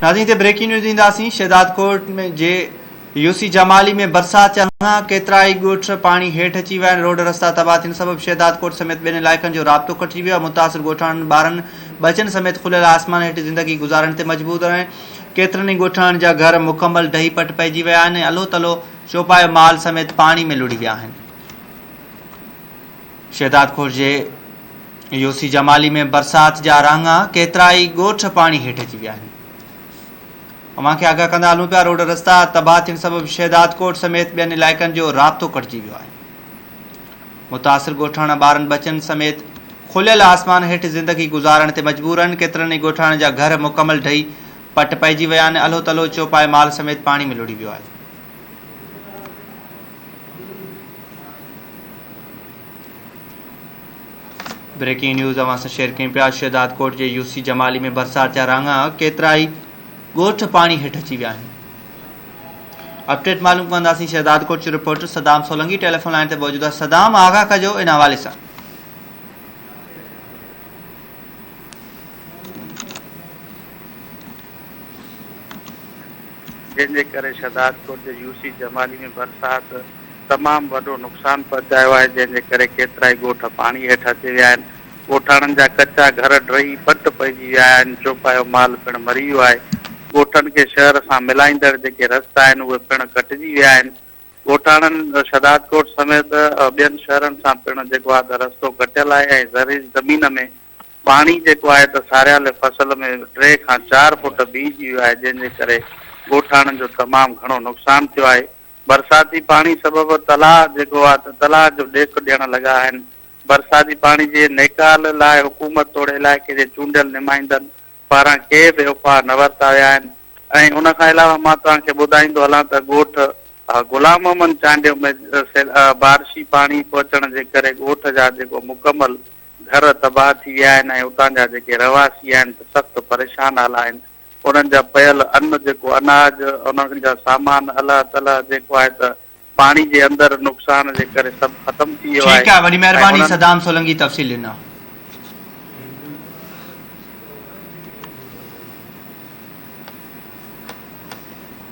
ناظرين اتي breaking news اينداسين شهداد ڪوٽ ۾ جي يو سي جمالي ۾ برسات چهڻ ڪيترائي ڳوٺ پاڻي هيٺ اچي ويا آهن روڊ رستا تباهه ٿيڻ سبب شهداد ڪوٽ سميت ٻين علائقن جو رابطو ڪٽجي ويو آهي متاثر ڳوٺاڻن ٻارن ٻچن سميت کليل آسمان هيٺ زندگي گذارڻ تي مجبور آهن ڪيترن ئي ڳوٺاڻن جا گهر مڪمل ڊهي پٽ پئجي ويا آهن ۽ الهو تلهو چوپايو مال سميت پاڻي ۾ لڙهي ويا آهن شهداد خور جي يوسي جمالي ۾ برسات جا رانگا ڪيترائي ڳوٺ پاڻي هيٺ اچي ويا آهن اوهان کي آگاهه ڪندا هلون پيا روڊ رستا تباهه ٿيڻ سبب شهداد ڪوٽ سميت ٻين علائقن جو رابطو ڪٽجي ويو آهي متاثر ڳوٺاڻا ٻارن بچن سميت کليل آسمان هيٺ زندگي گذارڻ تي مجبور آهن ڪيترن ئي ڳوٺاڻن جا گهر مڪمل ڊهي پٽ پئجي ويا آهن الهو تلهو چوپائي مال سميت پاڻي ۾ لڙهي ويو آهي بريڪنگ نيوز اوهان سان شيئر ڪيون پيا شهداد ڪوٽ جي يو سي جمالي ۾ برسات جا رنگ ڪيترائي ڳوٺ پاڻي هيٺ اچي ويا آهن اپڊيٽ معلوم ڪنداسين شهداد ڪوٽ جو reporter Saddam Solangi telephone line تي موجود آهي صدام آگاهه ڪجو ان حوالي سان جنهن جي ڪري شھداد ڪوٽ جي يو سي جمالي ۾ برسات تمام وڏو نقصان پهچايو آهي جنهن جي ڪري ڪيترائي ڳوٺ پاڻي هيٺ اچي ويا آهن ڳوٺاڻن جا ڪچا گهر ڊهي پٽ پئجي ويا آهن چوپايو مال پڻ مري ويو آهي ڳوٺن کي شهر سان ملائيندڙ جيڪي رستا آهن اهي پڻ ڪٽجي ويا آهن ڳوٺاڻن شھداد ڪوٽ سميت ٻين شهرن سان پڻ جيڪو آهي ته رستو ڪٽيل آهي ۽ زرعي زمين ۾ پاڻي جيڪو آهي ته ساريالي فصل ۾ ٽي کان چار فوٽ بيهجي ويو آهي جنهن جي ڪري ڳوٺاڻن جو تمام گهڻو نقصان ٿيو آهي برساتي پاڻي سبب تلاء جيڪو آهي ته تلاء جو ڏيک ڏيڻ لڳا آهن برساتي پاڻي جي نيڪال لاء حڪومت توڙي علائقي جي چونڊيل نمائندن پاران ڪي به اپاء نه ورتا ويا آهن ۽ ان کان علاوه مان توهان کي ٻڌائيندو هلان ته ڳوٺ غلام محمد چانڊيو ۾ بارشي پاڻي پهچڻ جي ڪري ڳوٺ جا جيڪو مڪمل گهر تباهه ٿي ويا آهن ۽ اتان جا جيڪي رهواسي آهن ته سخت پريشان حال آهن انهن جا پيل ان جيڪو اناج انهن جا سامان الهه تلهه جيڪو آهي ته پاڻي جي اندر نقصان جي ڪري سڀ ختم ٿي ويو آهي ٺيڪ آهي وڏي مهرباني ۽ انهن صدام سولنگي تفصيل ڏنا.